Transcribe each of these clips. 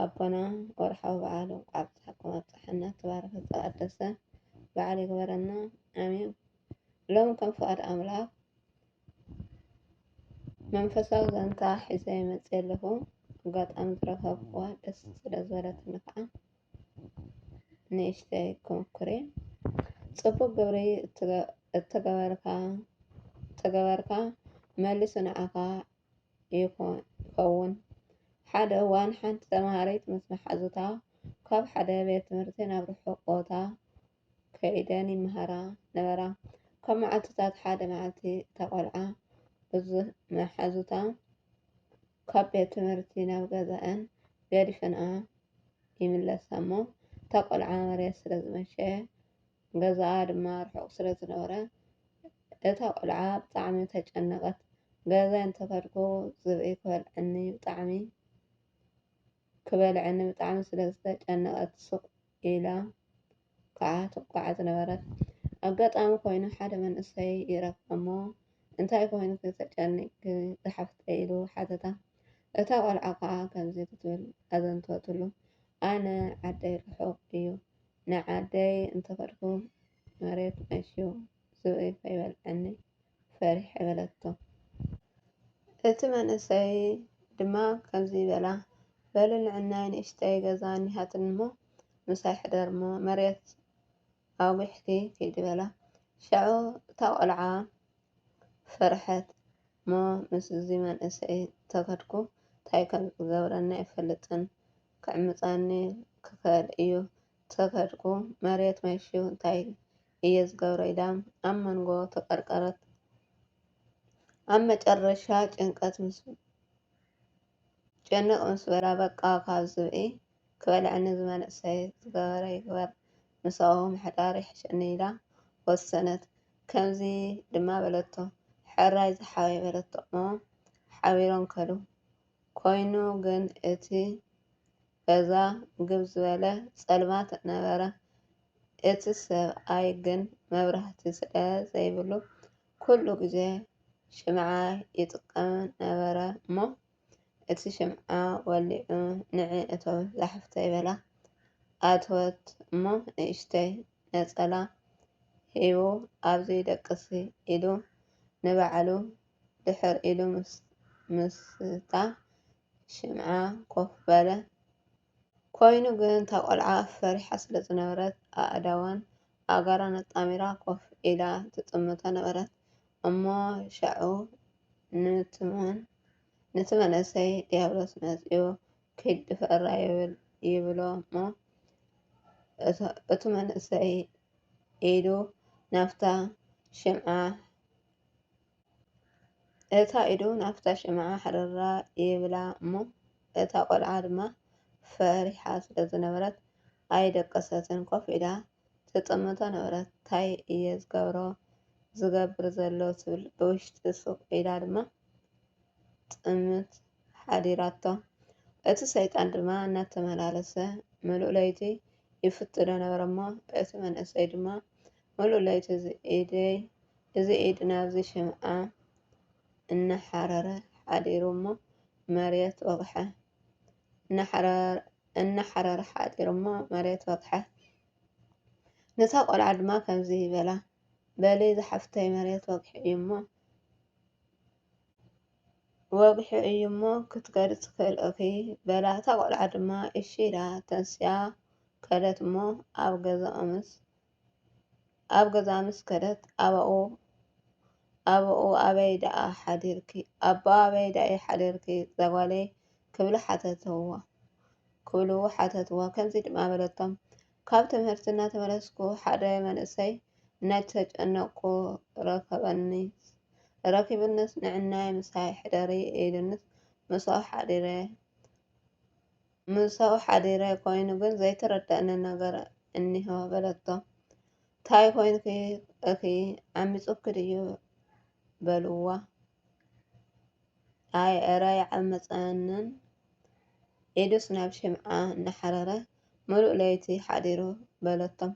ኣቦና ወርሓዊ በዓል እንኳዕ ኣብፀሐኩም ኣብፀሐና ተባረክ ዝተቀደሰ በዓል ይግበረና ኣሜን። ሎም ከም ፍቃድ ኣምላክ መንፈሳዊ ዘንታ ሒዘ ይመፅ ኣለኹ ኣጋጣሚ ዝረከብኩዋ ደስ ስለ ዝበለትኒ ከዓ ንእሽተይ ክምኩሬ ፅቡቅ ግብሪ እተገበርካ መሊሱ ንዓኻ ይኸውን። ሓደ እዋን ሓንቲ ተምሃሪት ምስ መሓዙታ ካብ ሓደ ቤት ትምህርቲ ናብ ርሑቕ ቦታ ከይደን ይመሃራ ነበራ። ካብ መዓልትታት ሓደ መዓልቲ እታ ቆልዓ ምስ መሓዙታ ካብ ቤት ትምህርቲ ናብ ገዛኣን ገዲፈንኣ ይምለሳ እሞ እታ ቆልዓ መሬት ስለዝመሸ ገዛኣ ድማ ርሑቕ ስለዝነበረ እታ ቆልዓ ብጣዕሚ ተጨነቀት ገዛይ እንተከድኩ ዝብኢ ክበልዐኒ ብጣዕሚ ክበልዐኒ ብጣዕሚ ስለ ዝተጨነቀት ሱቅ ኢላ ከዓ ትጓዓዝ ነበረት ኣጋጣሚ ኮይኑ ሓደ መንእሰይ ይረክባ እሞ እንታይ ኮይንኪ ተጨኒቅኪ ዝሓፍተይ ኢሉ ሓተታ እታ ቆልዓ ከዓ ከምዚ ክትብል ኣዘንተወትሉ ኣነ ዓደይ ርሑቅ እዩ ንዓደይ እንተከድኩ መሬት ነሽዩ ዝብኢ ከይበልዐኒ ፈሪሐ በለቶ። እቲ መንእሰይ ድማ ከምዚ በላ፣ በሊ ንዕናይ ንእሽተይ ገዛ እኒሃትኒ'ሞ ምሳይ ሕደር'ሞ መሬት ኣጒሕኪ ኪዲ በላ። ሻዑ እታ ቈልዓ ፈርሐት። እሞ ምስዚ መንእሰይ እንተኸድኩ እንታይ ከም ዝገብረኒ ኣይፈልጥን፣ ክዕምጻኒ ክኸእል እዩ፣ ተፈድኩ መሬት መሹ እንታይ እየ ዝገብሮ ኢላ ኣብ መንጎ ተቀርቀረት። ኣብ መጨረሻ ጭንቀት ምስ ጭንቅ ምስ በላ በቃ ካብ ዝብኢ ክበልዐኒ እዚ መንእሰይ ዝገበረ ይግበር ምስኡ ምሕዳር ይሕሸኒ ኢላ ወሰነት። ከምዚ ድማ በለቶ ሕራይ ዝሓወይ በለቶ እሞ ሓቢሮም ከዱ። ኮይኑ ግን እቲ በዛ ግብ ዝበለ ጸልማት ነበረ። እቲ ሰብኣይ ግን መብራህቲ ስለ ዘይብሉ ኩሉ ግዜ ሽምዓ ይጥቀም ነበረ እሞ እቲ ሽምዓ ወሊዑ ንዒ እቶ ዛሕፍተይ በላ። ኣተወት እሞ ንእሽተይ ነጸላ ሂቡ ኣብዚ ደቅሲ ኢሉ ንባዕሉ ድሕር ኢሉ ምስታ ሽምዓ ኮፍ በለ። ኰይኑ ግን፣ እታ ቈልዓ ፈሪሓ ስለ ዝነበረት፣ ኣእዳዋን ኣእጋራን ኣጣሚራ ኮፍ ኢላ ትጥምቶ ነበረት። እሞ ሻዑ ኑቲ መንእሰይ ድያብሎስ መጺኡ ኪድ ድፈራ ይብሎ'ሞ፣ እቱ መንእሰይ ኢዱ ናብታ ሽምዓ እታ ኢዱ ናብታ ሽምዓ ኣሕሪራ ይብላ እሞ እታ ቆልዓ ድማ ፈሪሓ ስለ ዝነበረት ኣይደቀሰትን ኮፍ ኢላ ትጥምቶ ነበረት ታይ እየ ዝገብሮ ዝገብር ዘሎ ትብል ብውሽጢ ሱቅ ኢላ ድማ ትጥምት ሓዲራቶ እቲ ሰይጣን ድማ እናተመላለሰ ምሉእ ለይቲ ይፍትኖ ነበረ እሞ እቲ መንእሰይ ድማ ምሉእ ለይቲ እዚ ኢድ ናብዚ ሽምዓ እናሓረረ ሓዲሩ እሞ መሬት ወቕሐ። ነታ ቈልዓ ድማ ከምዚ በላ፣ በሊ ዝሓፍተይ መሬት ወግሑ እዩሞ ክትከዲ ትኽእል'ኺ፣ በላ። እታ ቈልዓ ድማ እሺ ኢላ ተንሲኣ ከደት እሞ ኣብ ገዛኦምስ፣ ኣብ ገዛ ምስ ከደት ኣባኡ ኣባኡ ኣበይ ደኣ ሓዲርኪ ኣባኣ ኣበይ ደኣ ሓዲርኪ ዛጓለይ ክብሉ ሓተትዋ ክብሉ ሓተትዋ ከምዚ ድማ በለቶም ካብ ትምህርቲ እናተመለስኩ ሓደ መንእሰይ እናተጨነቅኩ ረከበኒ ረኪብንስ ንዒናይ ምሳይ ሕደሪ ኢሉንስ ምስኡ ሓዲረ። ምሳኡ ሓዲረ ኮይኑ ግን ዘይተረደኣኒ ነገር እኒሆ በለቶ። ታይ ኮይንኪ እኺ ዓሚፁኪ ድዩ በልዋ። ኣይ እረ ኣይዓመፀንን ኢዱስ ናብ ሽምዓ እናሓረረ ምሉእ ለይቲ ሓዲሩ በለቶም።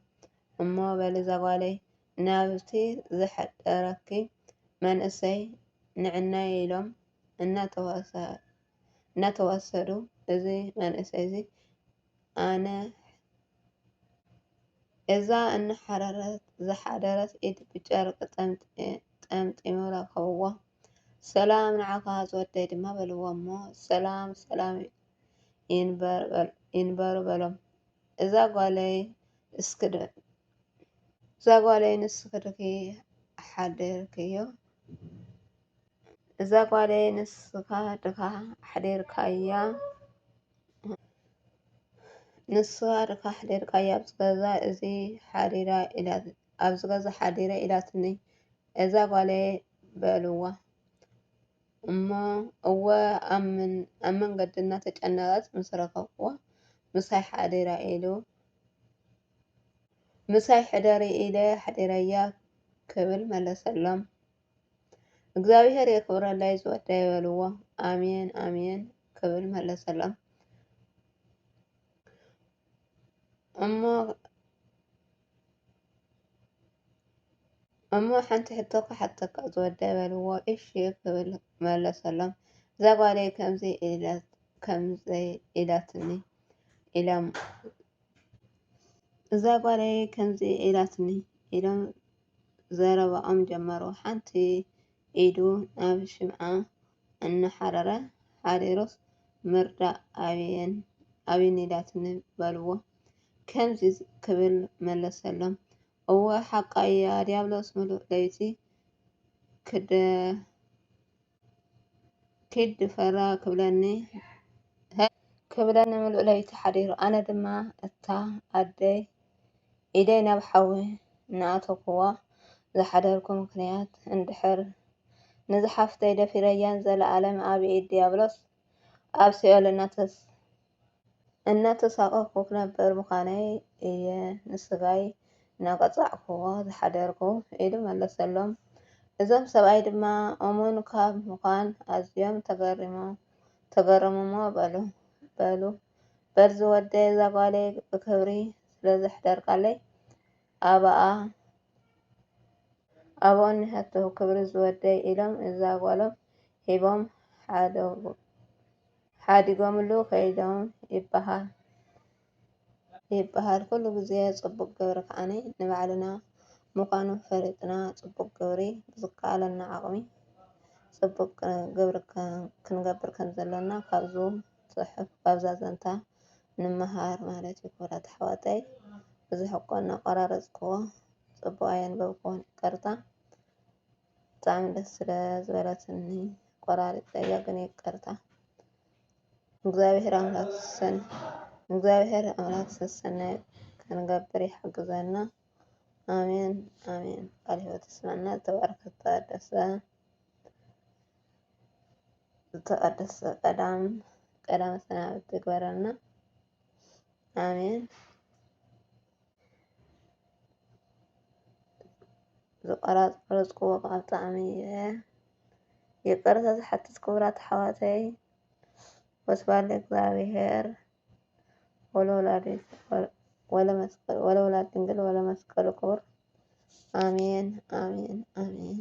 እሞ በሊ ዛጓለይ ናብቲ ዘሕደረኪ መንእሰይ ንዕናይ ኢሎም እናተዋሰ እናተዋሰዱ እዚ መንእሰይ እዚ ኣነ እዛ እናሓረረት ዝሓደረት ኢድ ብጨርቂ ጠምጢሙ ረከብዎ። ሰላም ንዓኻ ዝወደይ ድማ በልዎ እሞ ሰላም ሰላም ይንበሩ በሎም። እዛ ጓለይ ንስኽድኺ ሓዲርክዮ? እዛ ጓለይ ንስካ ድካ ኣሕዲርካያ ኣብዚ ገዛ እዚ ሓዲረ ኢላትኒ እዛ ጓለይ በልዋ እሞ እወ ኣብ መንገዲ እናተጨነቀት ምስ ረከብክዋ ምሳይ ሓዲራ ኢሉ ምሳይ ሕደሪ ኢለ ኣሕዲረያ ክብል መለሰሎም። እግዚኣብሔር የክብረለይ ዝወደይ በልዎ ኣሜን ኣሜን ክብል መለሰሎም እሞ እሞ ሓንቲ ሕቶ ክሓተካ ዝወደይ በልዎ እሺ ክብል መለሰሎም እዛ ጓለይ ከምዚ ከምዘይ ኢላትኒ ኢሎም እዛ ጓለይ ከምዚ ኢላትኒ ኢሎም ዘረባኦም ጀመሩ። ሓንቲ ኢዱ ናብ ሽምዓ እናሓረረ፣ ሓሪሩስ ምርዳእ ኣብየን ኢላትኒ በልዎ። ከምዚ ክብል መለሰሎም፣ እወ ሓቃ እያ፣ ድያብሎስ ምሉእ ለይቲ ኪድ ፈራ ክብለኒ ክብለኒ ምሉእ ለይቲ ሓዲሩ ኣነ ድማ እታ ኣደይ ኢደይ ናብ ሓዊ እናኣተኩዋ ዝሓደርኩ ምክንያት እንድሕር ንዝሓፍተይ ደፊረያን ዘለኣለም ኣብ ኢድ ዲያብሎስ ኣብ ሲኦል እናተሳቐቕኩ ክነብር ምዃነይ እየ ንስጋይ እናቐጻዕኩዎ ዝሓደርኩ ኢሉ መለሰሎም። እዞም ሰብኣይ ድማ እሙን ካብ ምዃን ኣዝዮም ተገረሙ'ሞ በሉ፣ በዚ ወደይ እዛ ጓለይ ብኽብሪ ስለ ዘሕደርካለይ ኣባኣ ኣባኡ እኒሀቶ ክብሪ ዝወደይ ኢሎም እዛ ጓሎም ሂቦም ሓዲጎምሉ ከይዶም ይበሃል። ይበሃል ኩሉ ግዜ ጽቡቅ ግብሪ ከዓኒ ንባዕልና ምኳኑ ፈሊጥና ጽቡቅ ግብሪ ብዝከኣለና ዓቅሚ ጽቡቅ ግብሪ ክንገብር ከምዘለና ካብዙ ጽሑፍ ካብዛ ዘንታ ንመሃር ማለት እዩ ክቡራት ኣሕዋተይ ብዙሕ እኮ እናቆራረፅክዎ ፅቡቅ ኣየንበብክዎን ይቅርታ ብጣዕሚ ደስ ስለ ዝበለትኒ ቆራሪፀያ ግን ይቅርታ እግዚኣብሔር ኣምላክ ሰን እግዚኣብሔር ኣምላክ ሰሰናዩ ክንገብር ይሓግዘና ኣሜን ኣሜን ቃል ህይወት ይስመዐና ዝተባረከት ተቀደሰ ዝተቀደሰ ቀዳም ቀዳመ ሰናብት ይግበረልና ኣሜን። ዝቆራረፅኩዎ ቃል ብጣዕሚ እየ ይቅርታ ዝሓትት ክቡራት ኣሕዋተይ ወስብሐት ለእግዚኣብሔር ወለወላዲቱ ወለመስቀሉ ክቡር ኣሜን ኣሜን ኣሜን።